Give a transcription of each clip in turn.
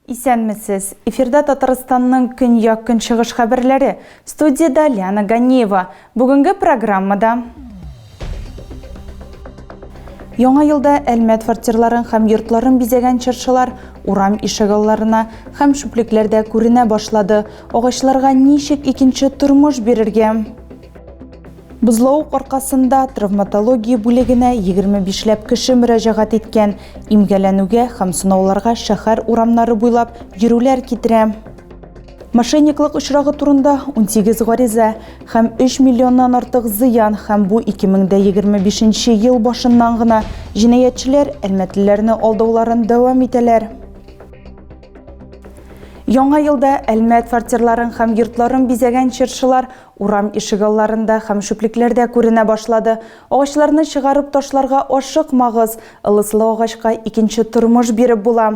Исәнмесез! Эфирда Татарстанның көньяк-көнчыгыш хәбәрләре. Студиядә Лиана Ганеева. Бүгенге программада Яңа елда Әлмәт фортирларын һәм йортларын бизәгән чыршылар урам ишегалларына һәм шүплекләрдә күренә башлады. Агачларга ничек икенче тормыш бирергә? Бозлау аркасында травматология бүлегенә 25 ләп кеше мөрәҗәгать иткән. Имгәләнүгә һәм сынауларга шәһәр урамнары буйлап йөрүләр китерә. Мошенниклык очрагы турында 18 гариза һәм 3 миллионнан артык зыян һәм бу 2025 ел башыннан гына җинаятьчеләр әлмәтлеләрне алдауларын дәвам итәләр. Яңа елда Әлмәт фортирларын һәм йортларын бизәгән чыршылар урам ишегалларында һәм шүплекләрдә күренә башлады. Агачларны чыгарып ташларга ашыкмагыз, ылыслы агачка икенче тормыш биреп була.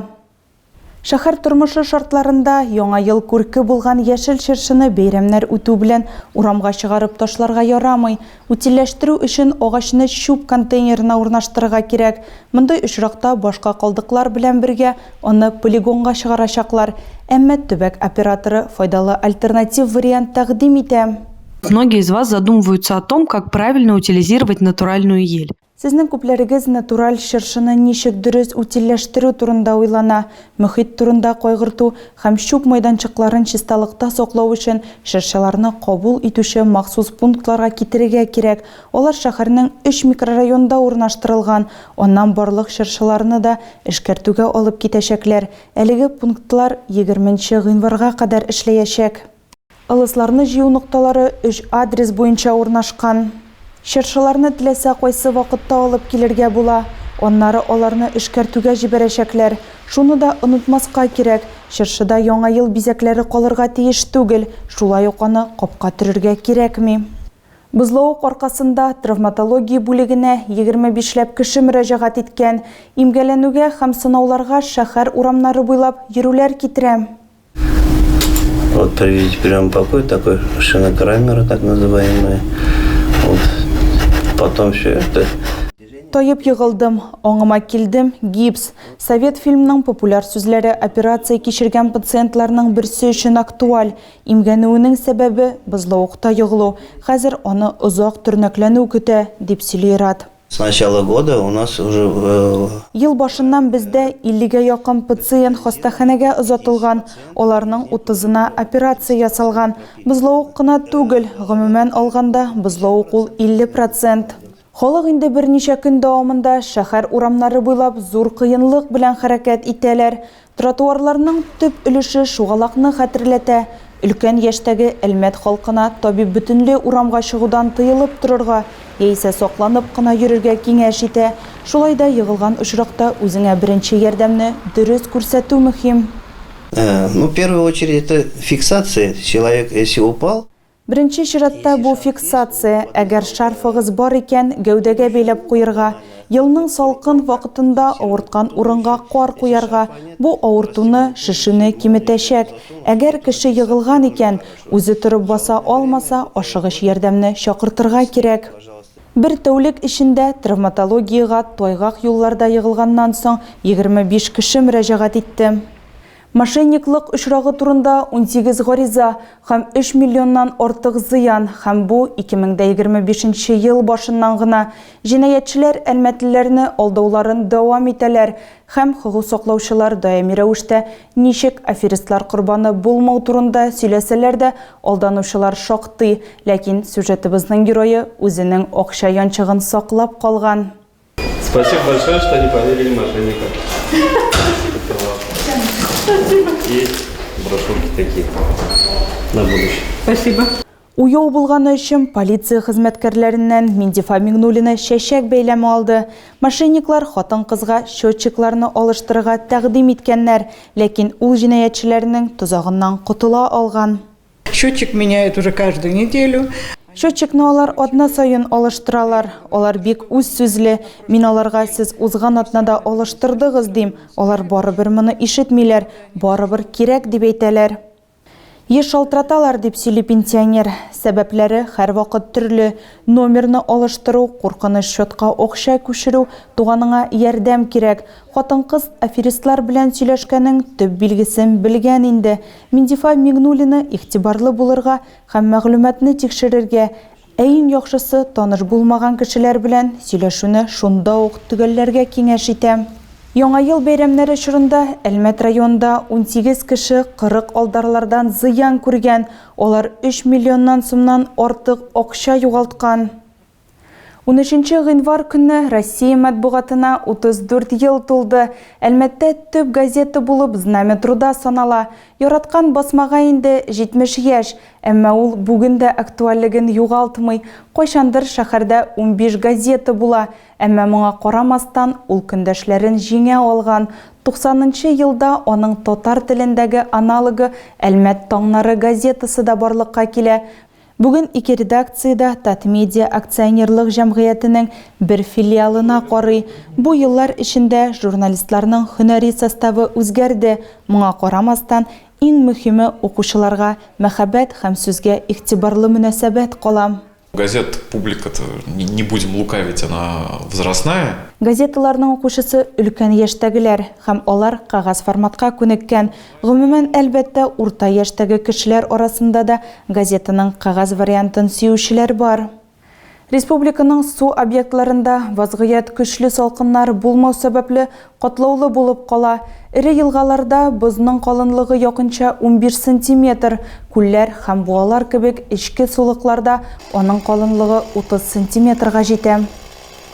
Шәһәр тормышы шартларында Яңа ел күрке булган яшел чыршыны бәйрәмнәр үтү белән урамга чыгарып ташларга ярамый. Утильләштерү өчен агачны чүп контейнерына урнаштырырга кирәк. Мондый очракта башка калдыклар белән бергә аны полигонга чыгарачаклар. Әмма төбәк операторы файдалы альтернатив вариант тәкъдим итә. Многие из вас задумываются о том, как правильно утилизировать натуральную ель. Сезнең күпләрегез натураль чыршыны ничек дөрес утильләштерү турында уйлана, мохит турында кайгырту һәм чүп майданчыкларын чисталыкта саклау өчен чыршыларны кабул итүче махсус пунктларга китерергә кирәк, алар шәһәрнең өч микрорайонында урнаштырылган, аннан барлык чыршыларны да эшкәртүгә алып китәчәкләр, әлеге пунктлар егерменче гыйнварга кадәр эшләячәк. Ылысларны җыю нокталары өч адрес буенча урнашкан. Чыршыларны теләсә кайсы вакытта алып килергә була. Аннары аларны эшкәртүгә җибәрәчәкләр. Шуны да онытмаска кирәк, чыршыда Яңа ел бизәкләре калырга тиеш түгел, шулай ук аны капка төрергә кирәкми. Бозлавык аркасында травматология бүлегенә егерме бишләп кеше мөрәҗәгать иткән. Имгәләнүгә һәм сынауларга шәһәр урамнары буйлап йөрүләр китерә. Вот привезите прием покой, такой шинокрамера, так называемые. Вот. Потом все это Тайып егылдым, оңыма килдем, гипс. Совет фильмның популяр сүзләре операция кичергән пациентларның берсе өчен актуаль. Имгәнүенең сәбәбе бозлавыкта егылу. Хәзер аны озак төрнәкләнү көтә, дип сөйли Ират. С начала года у нас уже. Ел башыннан бездә 50 гә якын пациент хастаханәгә озатылган, аларның утызына операция ясалган. Бозлавык кына түгел, гомумән алганда, бозлавык ул 50 процент. Халык инде берничә көн дәвамында шәһәр урамнары буйлап зур кыенлык белән хәрәкәт итәләр. Тротуарларның төп өлеше шугалакны хәтерләтә. Өлкән яшьтәге Әлмәт халкына табиб бөтенле урамга чыгудан тыелып торырга яисә сакланып кына йөрергә киңәш итә. Шулай да егылган очракта үзеңә беренче ярдәмне дөрес күрсәтү мөһим. Ну первую очередь это фиксация, человек если упал. Беренче чиратта бу фиксация, әгәр шарфыгыз бар икән, гәүдәгә бәйләп куерга. Елның салкын вакытында авырткан урынга кар куярга, бу авыртуны, шешүне киметәчәк. Әгәр кеше егылган икән, үзе торып баса алмаса, ашыгыч ярдәмне чакыртырга кирәк. Бер тәүлек эчендә травматологиягә тайгак юлларда егылганнан соң егерме биш кеше мөрәҗәгать итте. Мошенниклык очрагы турында унсигез гариза һәм өч миллионнан артык зыян һәм бу 2025 нче ел башыннан гына җинаятьчеләр әлмәтлеләрне алдауларын дәвам итәләр һәм хокук саклаучылар даими рәвештә ничек аферистлар корбаны булмау турында сөйләсәләр дә алданучылар шактый, ләкин сюжетыбызның герое үзенең акча янчыгын саклап калган. Спасибо большое, что не поверили мошенникам. Спасибо. И брошюрки такие на будущее. Спасибо. Уяу булганы өчен полиция хезмәткәрләреннән Миндифа Мигнулина чәчәк бәйләме алды. Мошенниклар хатын-кызга счетчикларны алыштырырга тәкъдим иткәннәр, ләкин ул җинаятьчеләрнең тозагыннан котыла алган. Счетчик меняют уже каждую неделю. Счетчикны алар атна саен алыштыралар. Алар бик үз сүзле. Мин аларга сез узган атнада алыштырдыгыз, дим. Алар барыбер моны ишетмиләр, барыбер кирәк дип әйтәләр. Еш шалтыраталар, дип сөйли пенсионер. Сәбәпләре һәрвакыт төрле. Номерны алыштыру, куркыныч счетка акча күчерү, туганыңа ярдәм кирәк. Хатын-кыз аферистлар белән сөйләшкәнең төп билгесен белгән инде. Миндифа Миңнуллина игътибарлы булырга һәм мәгълүматны тикшерергә, ә иң яхшысы, таныш булмаган кешеләр белән сөйләшүне шунда ук төгәлләргә киңәш итә. Яңа ел бәйрәмнәре чорында Әлмәт районында унсигез кеше кырык алдарлардан зыян күргән, алар өч миллионнан сумнан артык акча югалткан. Унөченче гыйнвар көнне Россия матбугатына 34 ел тулды. Әлмәттә төп газета булып Знамя труда санала. Яраткан басмага инде 70 яшь, әмма ул бүген дә актуальлеген югалтмый. Кайчандыр шәһәрдә унбиш газета була, әмма моңа карамастан, ул көндәшләрен җиңә алган. Туксанынчы елда аның татар телендәге аналогы Әлмәт таңнары газетасы да барлыкка килә. Бүген ике редакция дә Татмедиа акционерлык җәмгыятенең бер филиалына карый. Бу еллар эчендә журналистларның һөнәри составы үзгәрде, моңа карамастан, иң мөһиме, укучыларга мәхәббәт һәм сүзгә игътибарлы мөнәсәбәт кала. Газет публиката, не будем лукавить, она возрастная. Газеталарның укучысы өлкән яшьтәгеләр һәм алар кәгазь форматка күнеккән. Гомумән, әлбәттә, урта яшьтәге кешеләр арасында да газетаның кәгазь вариантын сөючеләр бар. Республиканың су объектларында вазгыять көчле салкыннар булмау сәбәпле катлаулы булып кала, эре елгаларда бозның калынлыгы якынча унбиш сантиметр, күлләр һәм буалар кебек эчке сулыкларда аның калынлыгы утыз сантиметрга җитә.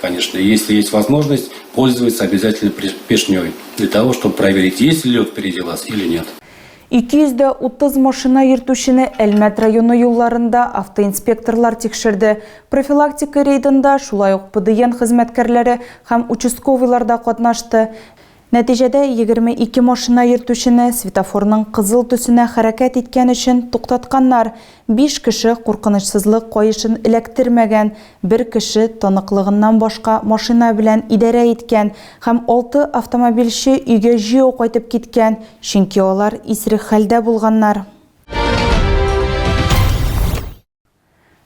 Конечно, если есть возможность, пользоваться обязательно пешней, для того, чтобы проверить, есть ли лед впереди вас или нет. 230 машина йөртүчене Әлмәт районы юлларында автоинспекторлар тикшерде. Профилактика рейдында шулай ук ПДН хезмәткәрләре һәм участковыйлар да катнашты. Нәтиҗәдә, егерме ике машина йөртүчене светофорның кызыл төсенә хәрәкәт иткән өчен туктатканнар, биш кеше куркынычсызлык каешын эләктермәгән, бер кеше таныклыгыннан башка машина белән идарә иткән һәм алты автомобильче өйгә җәяү кайтып киткән, чөнки алар исерек хәлдә булганнар.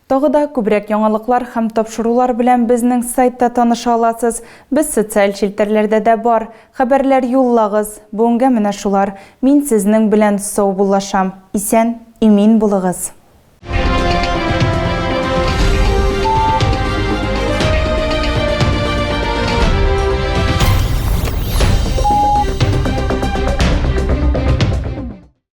Тагы да күбрәк яңалыклар һәм тапшырулар белән безнең сайтта таныша аласыз. Без социаль челтәрләрдә дә бар. Хәбәрләр юллагыз. Бүгенгә менә шулар. Мин сезнең белән саубуллашам. Исән, имин булыгыз!